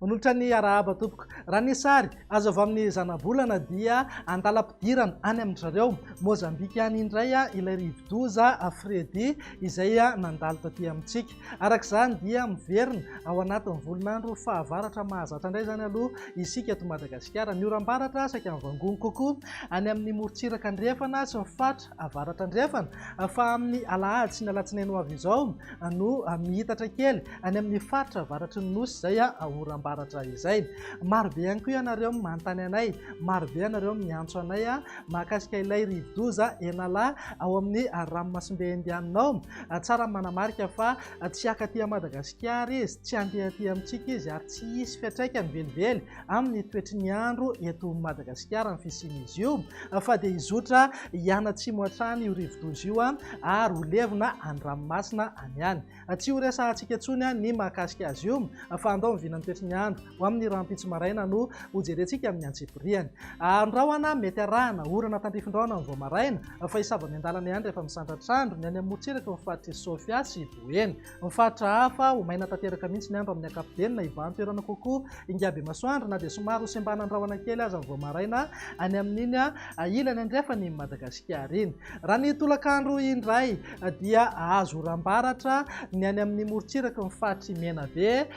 Manolotra ny arahaba tompoko. Raha ny sary azo avy amin'ny zanabolana dia andalam-pidirana any amin-dry zareo Mozambika any indray ilay rivodoza Freddy izay nandalo taty amintsika. Araka izany dia miverina ao anatin'ny volon'andro fahavaratra mahazatra indray izany aloha isika eto Madagasikara. Ny oram-baratra saika mivangongo kokoa any amin'ny morontsiraka andrefana sy ny faritra avaratra andrefana fa amin'ny alahady sy ny alatsinainy ho avy izao no mihitatra kely any amin'ny faritra avaratry ny nosy izay oram-baratra izay. Marobe ihany koa ianareo manontany anay, marobe ianareo miantso anay mahakasika ilay rivodoza Enala ao amin'ny ranomasimbe Indianina ao. Tsara ny manamarika fa tsy haka aty Madagasikara izy, tsy handeha aty amintsika izy ary tsy hisy fiantraikany velively amin'ny toetry ny andro eto Madagasikara ny fisian'izy io fa dia hizotra hianatsimo hatrany io rivodoza io ary ho levona any ranomasina any ihany. Tsy ho resahantsika intsony ny mahakasika azy io fa andao miviana ny toetry ny andro. Ho amin'ny rahampitso maraina no hojerentsika amin'ny antsipiriany. Andrahona, mety arahana orana tandrifin-drahona amin'ny vao maraina, fa hisava miandalana ihany rehefa misandratr'andro, ny any amorontsiraka ho faritr'i Sofia sy Boeny. Ny faritra hafa, ho maina tanteraka mihitsy ny andro amin'ny ankapobeny na hibahan-toerana kokoa ingahibe-masoandro na dia somary hosembanan-drahona kely aza ny vao maraina any amin'iny ilany andrefana iny Madagasikara iny. Raha ny tolakandro indray dia hahazo oram-baratra ny any amin'ny morontsiraky ny faritr'i Menabe,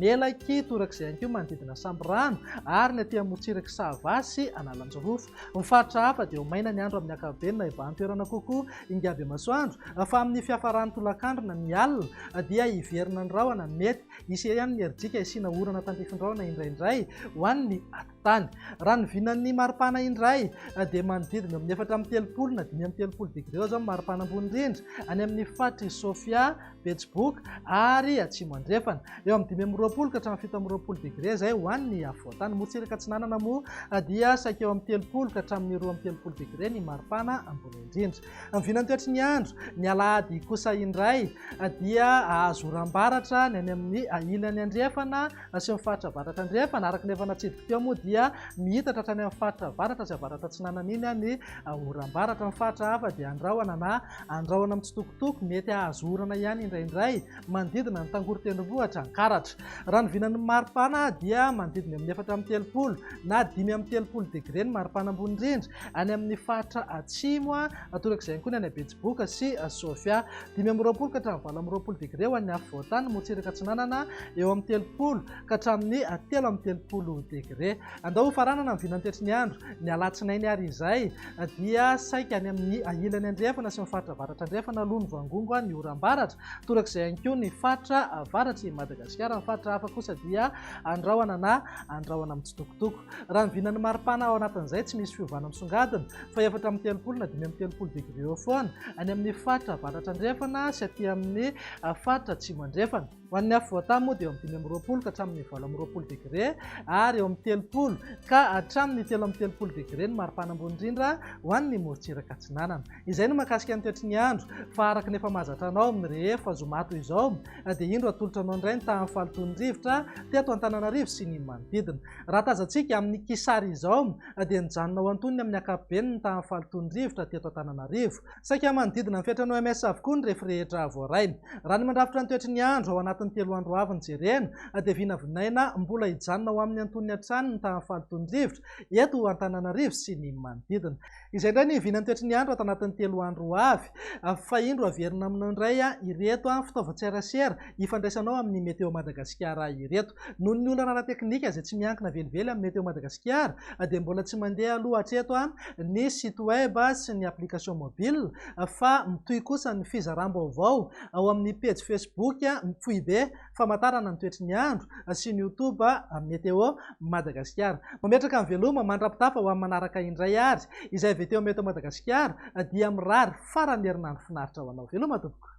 Melaky, torak'izay ihany koa manodidina Sambirano ary ny aty amorontsirak'i Sava sy Analanjirofo. Ny faritra hafa dia ho maina ny andro amin'ny ankapobeny na hibahan-toerana kokoa ingabemasoandro fa amin'ny fiafaran'ny tolakandro na ny alina dia hiverina ny rahona. Mety hisy ihany ny herijika hisiana orana tandrifindraona indraindray ho an'ny aty. Tany. Raha ny vinan'ny maripana indray dia manodidina eo amin'ny efatra amby telopolo na dimy amby telopolo degré eo izao ny maripana ambony indrindra any amin'ny faritr'i Sofia, Betsiboka ary Atsimo Andrefana. Eo amin'ny dimy amby roapolo ka hatramin'ny fito amby roapolo degré izay ho an'ny afovoantany. Morontsiraka Atsinanana moa dia saika eo amin'ny telopolo ka hatramin'ny roa amby telopolo degré ny maripana ambony indrindra. Ny vinan'ny toetry ny andro, ny alahady kosa indray dia hahazo oram-baratra ny any amin'ny ilany andrefana Asehon'ny faritra avaratra andrefana, araka ny efa natsidiko teo moa dia mihitatra hatrany amin'ny faritra avaratra sy avaratra atsinanana iny ny oram-baratra. Ny faritra hafa dia andrahona na andrahona mitsitokotoko, mety hahazo orana ihany indraindray, manodidina ny tangory tendrombohitra Ankaratra. Raha ny vinan'ny maripana dia manodidina amin'ny efatra amby telopolo na dimy amby telopolo degre ny maripana ambony indrindra any amin'ny faritra atsimo Torak'izay ihany koa ny any Betsiboka sy Sofia. Dimy amby roapolo ka hatramin'ny valo amby roapolo degre ho an'ny afovoan-tany, motsiraka atsinanana eo amin'ny telopolo ka hatramin'ny telo amby telopolo degre. Andao hofaranana ny vinantoetry ny andro ny alatsinainy ary izay dia saika any amin'ny ilany andrefana sy ny faritra avaratra andrefana aloha no vangongo ny oram-baratra. Torak'izay ihany koa ny faritra avaratr'i Madagasikara. Ny faritra hafa kosa dia andrahona na andrahona mitsitokotoko. Raha ny vinan'ny maripana ao anatin'izay tsy misy fiovana misongadina fa efatra amby telopolo na dimy amby telopolo degre eo foana any amin'ny faritra avaratra andrefana sy aty amin'ny ah, faritra atsimo andrefana. Ho an'ny afovoan-tany moa dia eo amin'ny dimy amby roapolo ka hatramin'ny valo amby roapolo degre ary eo amin'ny telopolo ka hatramin'ny telo amby telopolo degre ny maripana ambony indrindra ho an'ny morontsiraka atsinanana. Izay no mahakasika ny toetry ny andro fa araka ny efa mahazatra anao amin'ny rehefa zoma toy izao dia indro atolotra anao indray ny tahan'ny fahalotoan'ny rivotra teto Antananarivo sy ny manodidina. Raha tazantsika amin'ny kisary izao dia nijanona ho antonony amin'ny ankapobeny ny tahan'ny fahalotoan'ny rivotra teto Antananarivo. Saika manodidina ny fetran'ny OMS avokoa ny refy rehetra voaray. Raha ny mandrafitra ny toetry ny andro ao anatin'ny telo andro avy no jerena dia vinavinaina mbola hijanona ho amin'ny antonony hatrany ny tahan'ny fahalotoan'ny rivotra eto Antananarivo sy ny manodidina. Izay indray ny vinan'ny toetry ny andro ato anatin'ny telo andro ho avy. Fa indro averina aminao indray ireto fitaovan-tserasera ifandraisanao amin'ny Météo Madagasikara ireto. Noho ny olana ara-teknika izay tsy miankina velively amin'ny Météo Madagasikara dia mbola tsy mandeha aloha hatreto ny site web sy ny application mobile fa mitohy kosa ny fizaram-baovao ao amin'ny pejy Facebook Foibe Famantarana ny toetry ny andro sy ny Youtube Météo Madagasikara. Mametraka ny veloma mandra-pitafa ho amin'ny manaraka indray ary izay avy eto Météo Madagasikara dia mirary faran'ny herinandro finaritra ho anao. Veloma tompoko.